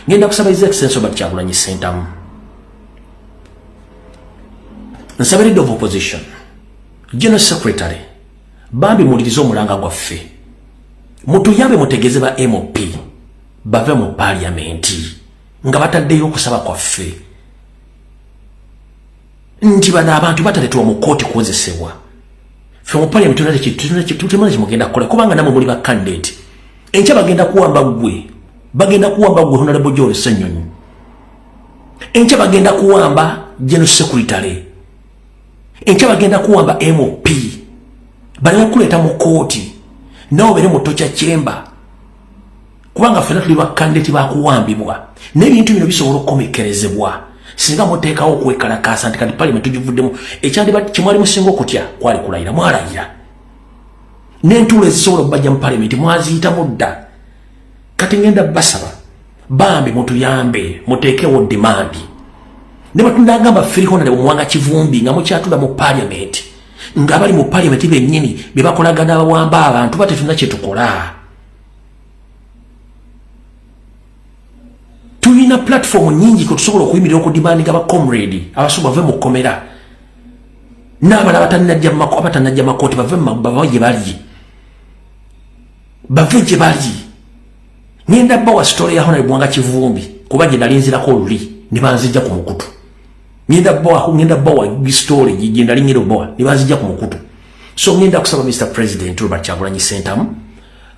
ngenda kusaba his excellency robert kyagulanyi sentamu nsaba leader of opposition general secretary bambi mulirize omulanga gwaffe mutuyambe mutegeze ba mop bave mu parliamenti nga bataddeyo okusaba kwaffe nti bano abantu bataletwa mu kooti kuwozesebwa fe mu parliament tulimana kimugenda kukola kubanga namwe muli bakandidate enkya bagenda kuwamba gwe bagenda kuwamba gwe honalebo jole senyonyi enkya bagenda kuwamba general secretary enkya bagenda kuwamba mop balina kuleeta mu kooti nawe obere mu tokya chamber kubanga ffena tuli bakandidati bakuwambibwa n'ebintu bino bisobola okukomekkerezebwa singa muteekawo okwekalakaasa nti kati paliyamenti tugivuddemu ekyandiba kyemwali musinga okutya kwali kulayira mwalayira n'entuulo ezisobola okubajja mu paliyamenti mwaziyitamu dda kati ngenda basaba bambi mutuyambe muteekewo demandi ne batunagamba firihonale omuwanga kivumbi nga mukyatula mu paliyamenti ng'abali mu paliyamenti bennyini bye bakolagana abawamba abantu batetuna kye tukola tulina platform nyingi kwetusobola okuyimirira okudimandiga bacomrade abasoma bave mu kkomera n'abala abatanajja makooti bave gye bali bave gye bali ngenda bawa sitole ya honore bwanga kivumbi kuba gye nali nzirako oluli ne banzijja ku mukutu ngenda bawa ngenda bawa sitole gye nali ngenda obawa ne banzijja ku mukutu so ngenda kusaba mr president robert kyagulanyi sentamu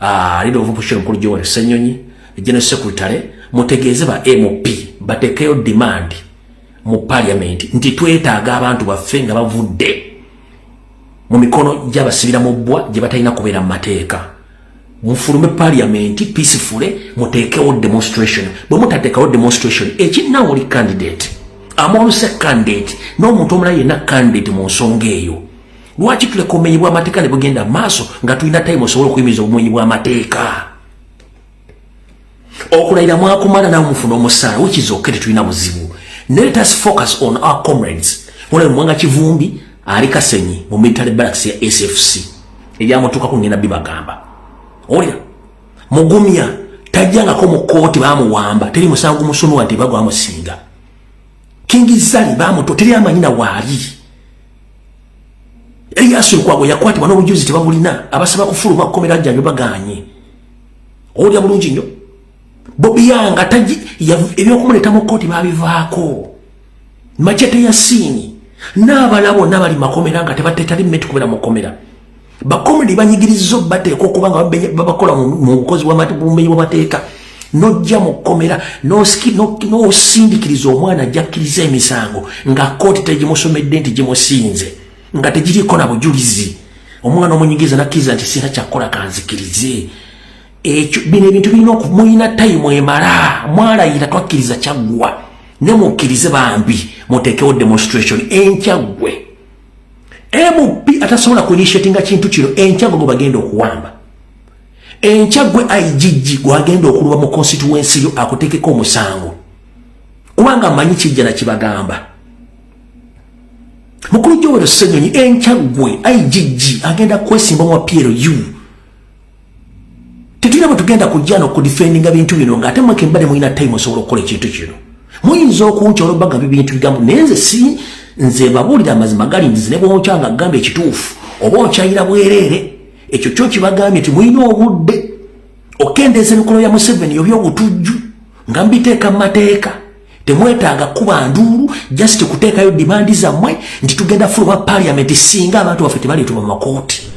Ah, leader of opposition mukulu Joel Ssenyonyi ne general secretary mutegeeze ba MP batekeyo demand mu parliament nti twetaaga abantu baffe nga bavudde mu mikono gy'abasibira mu bbwa gye batalina kubeera mu mateeka mufulume parliament peacefully muteekewo demonstration bwe mutateekawo demonstration ekinnawo oli candidate amoluse candidate n'omuntu omulala yenna candidate mu nsonga eyo lwaki tuleka obumenyi bw'amateeka ne bugenda maaso nga tulina time osobola okuyimiriza obumenyi bw'amateeka okulayira mwakumala nawe mufuna omusaala wikizoke tetulina buzibu let us focus on our comrades olaba mwanga kivumbi ali kasenyi mu military barracks ya sfc ebyamutuukako ngenda bibagamba olira mugumya tajjangako mu kooti bamuwamba teri musango musunwa nti bagwamusinga kingizali bamuto teri amanyina waali Elias Lukwago yakwatibwa n'obujulizi tebabulina abasaba kufuluma kukomera jjanjo baganye owulira bulungi nnyo Bobi Yanga taji ebyokumuleeta mu kkooti babivaako machete ya siini n'abala bonna bali makomera nga tebatetali mmetukubera mu kkomera bakomedi banyigiriza obateeka okuba nga babakola mu bukozi bw'obumenyi bw'amateeka nojja mu kkomera n'osindikiriza omwana ajjakkiriza emisango nga kooti tegimusomedde nti gimusinze nga tegiriiko na bujulizi omwana omunyigiriza nakkiriza nti sina kyakukola kanzikirize ekyo bino ebintu birina okumulina tayimu emala mwalayira twakkiriza kyaggwa ne mukkirize bambi muteekewo demonstration enkyaggwe MP atasobola ku initiatinga kintu kino enkya gwe bagenda okuwamba enkya gwe IGG gwagenda okuluba mu constituency yo akutekeko omusango kubanga amanyi kijja na kibagamba mukulu Joel Ssenyonyi enkya gwe IGG agenda kwesimba mu PLU tetulina bwe tugenda kujja nokudifendinga bintu bino nga ate mweke mbade mulina time osobola okukola ekintu kino muyinza okunkya olwobaga byo bintu bigambo naye nze si nze babuulira amazima gali nzizi ne bwonkya nga gamba ekituufu oba onkyayira bwereere ekyo kyo kibagambye nti mulina obudde okendeeza emikolo ya museveni obyobutujju nga mbiteeka mu mateeka temwetaaga kuba nduulu just kuteekayo dimandi zammwe nti tugenda fuluba paliamenti singa abantu baffe tebaleetuma mu makooti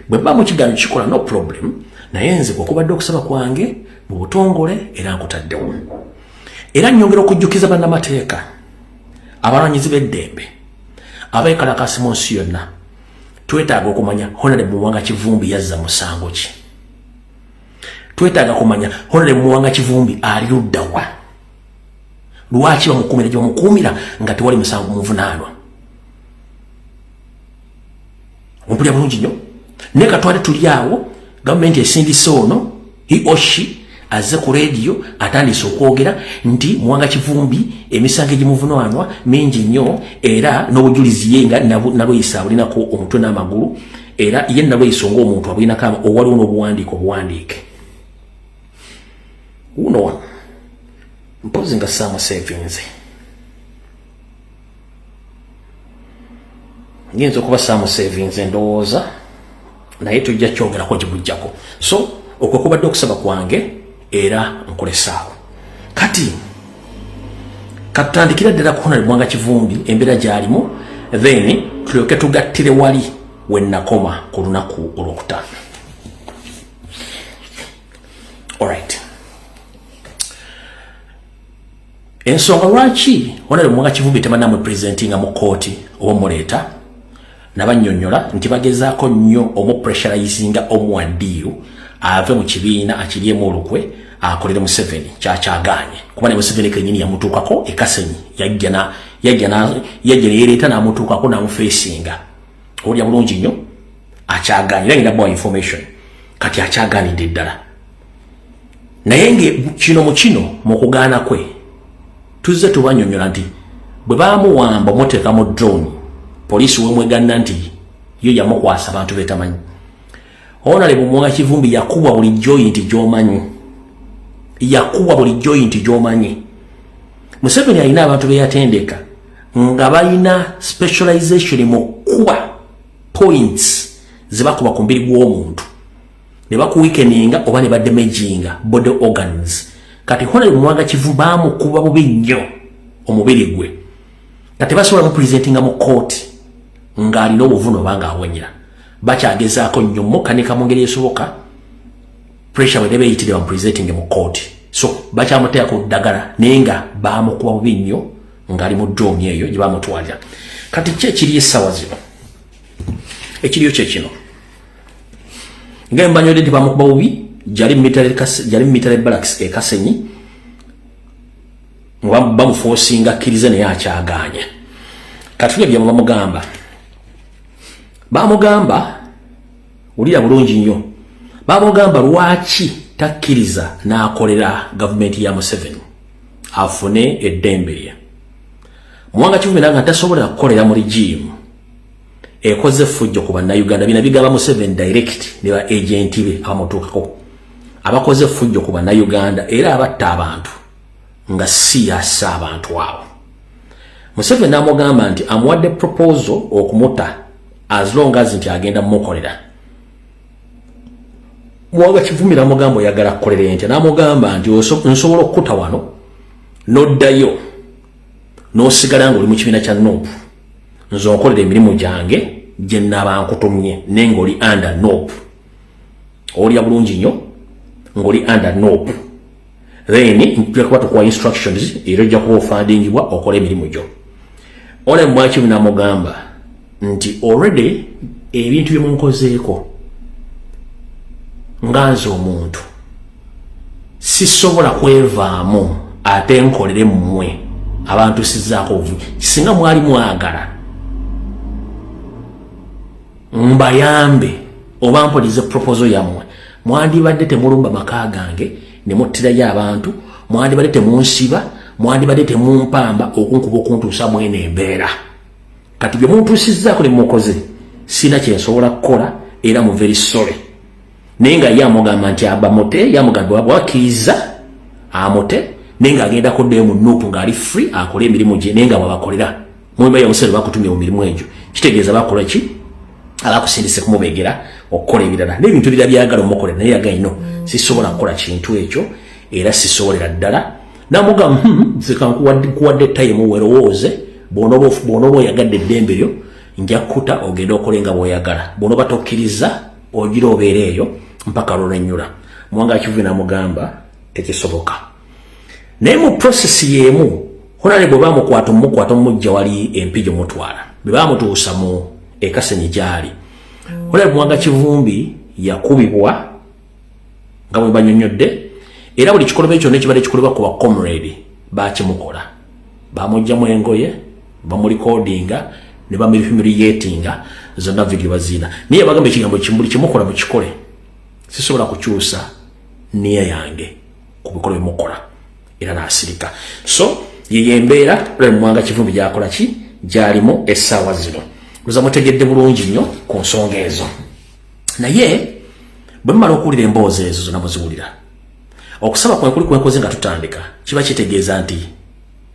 bwe mba mu kigaano kikola no problem naye nze kwekubadde okusaba kwange mu butongole era nkutaddewo era nyongera okujjukiza bannamateeka abalwanyizi b'eddembe abekalakasi mu nsi yonna twetaaga okumanya honale muwanga kivumbi yazza musango ki twetaaga kumanya honore muwanga kivumbi ali ludda wa lwaki bamukuumira gye bamukuumira nga tewali musango muvunaanwa ompulira bulungi nnyo naye katwale tuli awo gavumenti esindise ono he or she azze ku rediyo atandise okwogera nti muwanga kivumbi emisango egimuvunanwa mingi nnyo era n'obujulizi ye nga nalweyisa abulinako omutwe n'amagulu era ye nalweyiso ng'omuntu abulinako owaliwo n'obuwandiike obuwandiike wuno wano mpozi nga saamuseevinze nyinza okuba saamuseevinze ndowooza naye tujja kyogerako gibujjako so okwo kubadde okusaba kwange era nkulesaawo kati katutandikira ddala kuhona libwanga kivumbi embeera gyalimu then tulyoke tugattire wali wenakoma ku lunaku olwokutaano alright ensonga lwaki onale mwaka kivubi tebanamwe presenting mu kooti oba muleeta nabanyonyola nti bagezaako nnyo omupressurizinga omuwadiiru ave mu kibiina akiryemu olukwe akolere museveni kyakyagaanye kuba ne museveni kenyini yamutuukako ekasenyi yajja neyereeta namutuukako namufeesinga olya bulungi nnyo akyagaanye era ngenda bawa information kati akyagaanidde ddala naye nge kino mu kino mu kugaana kwe tuzze tubanyonyola nti bwe bamuwamba omuteeka mu drone poliisi wemweganna nti yo yamukwasa abantu betamanyi onale bumwanga kivumbi yakubwa buli joyi nti gyomanyi yakubwa buli joyi nti gyomanyi museveni alina abantu beyatendeka nga balina specialization mu kuba points zebakuba ku mbiri gw'omuntu ne bakuwikeninga oba ne bademejinga body organs kati honere mwaga kivu bamukuba bubi nnyo omubiri gwe nga tebasobola mupresentinga mu kooti ng'alina obuvuno oba ng'awonyera bakyagezaako nnyo mukanika mu ngeri esoboka pressure bwe nebeeyitire bamupresentinge mu kooti so bakyamuteeka ku ddagala naye nga bamukuba bubi nnyo ng'ali mu doomi eyo gye bamutwalira kati ki ekiri essaawa zino ekiriyo kye kino nga mbanyode nti bamukuba bubi jali mitale kas jali mitale barracks e kasenyi nga bamufosinga kirize naye akyaganya katule bya bamugamba bamugamba ulira bulungi nnyo bamugamba lwaki takkiriza n'akolera gavumenti ya museveni afune eddembe lye muwanga kivumira nga tasobola kukolera mu rigimu ekoze effujjo ku bannayuganda bina bigaba museven direct ne ba agenti be abamutuukako abakoze effujjo ku bannayuganda era abatta abantu nga si yassa abantu abo museven amugamba nti amuwadde proposal okumuta as long as nti agenda mumukolera muwanga kivumira amugamba oyagala kukolera entya namugamba nti nsobola okukuta wano noddayo nosigala nga oli mu kibiina kya nupu nze onkolera emirimu gyange gye naba nkutumye naye ng'oli under nop olya bulungi nnyo ng'oli under nop then nja kuba tukuwa instructions era ojja kuba ofandingibwa okola emirimu gyo ole mwaki namugamba nti already ebintu byemunkozeeko nga nze omuntu sisobola kwevaamu ate nkolere mmwe abantu sizaako obuvubi singa mwali mwagala mbayambe oba mpolize proposo yammwe mwandibadde temulumba maka gange ne muttirayo abantu mwandibadde temunsiba mwandibadde temumpamba okunkuba okuntuusa mwene embeera kati bye muntuusizaako ne mukoze sirina kyensobola kukola era muveri sole naye nga ye amugamba nti abamute yamugamba bwakkiriza amute naye nga agenda kuddayo mu nuupu ng'ali free akole emirimu gye naye nga bwabakolera muyumba yamusere bakutumye mu mirimu egyo kitegeeza bakola ki abakusindise kumubegera okukola ebirala n'ebintu bira byagala omukolera naye yaga ino sisobola kukola kintu ekyo era sisobolera ddala namugamba hmm, zikankuwadde tayimu werowooze bwonoba oyagadde eddembe lyo nja kukuta ogende okole nga bwoyagala bwonoba tokkiriza ogira obeera eyo mpaka lulwenyula mwanga kivubi namugamba tekisoboka naye mu process yemu honale bwe bamukwata omukwata omujja wali empi gyomutwala bwe bamutuusa mu ekasenyi gyali honale mwanga kivumbi yakubibwa nga bwe banyonyodde era buli kikolobero kyonna ekibadde kikolebwa ku bacomrade bakimukola bamujjamu engoye bamulikodinga ne bamirifimiryetinga zonna vidiyo baziina naye bagamba ekigambo kimbuli kyemukola mukikole sisobola kukyusa niya yange ku bikolo byemukola era nasirika so yeyembeera lwemwanga kivumbi gyakola ki gyalimu essaawa zino luza mutegedde bulungi nnyo ku nsonga ezo naye bwe mumala okuwulira emboozi ezo zonna muziwulira okusaba kwekuli kwenkoze nga tutandika kiba kitegeeza nti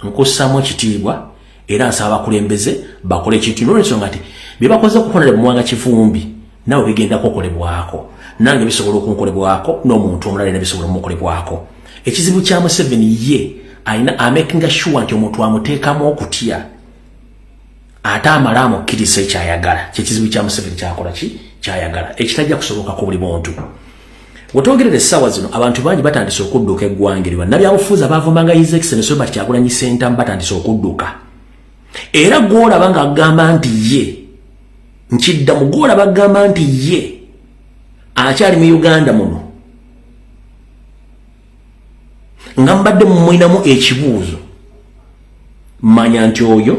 nkussaamu ekitiibwa era nsaba abakulembeze bakole ekintu nolwensonga nti byebakoze okukolera muwanga kivumbi nawe bigenda kukolebwako nange bisobola okunkolebwako n'omuntu omulala era bisobola omukolebwako ekizibu kya museveni ye alina amakinga sure nti omuntu amuteekamu okutya ate amale amukkiriza ekyayagala kyekizibu kya museveni kyakola ki kyayagala ekitajja kusoboka ku buli muntu wetwogerera essaawa zino abantu bangi batandise okudduka eggwanga eri bannabyabufuuzi abaavumanga his excellence robert kyagulanyi sentamu batandise okudduka era gwolaba nga agamba nti ye nkidda mu gwolaba agamba nti ye akyali mu uganda muno nga mbadde mumulinamu ekibuuzo manya nti oyo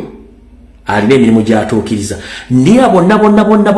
alina emirimu gyatuukiriza naye abonna bonna bonna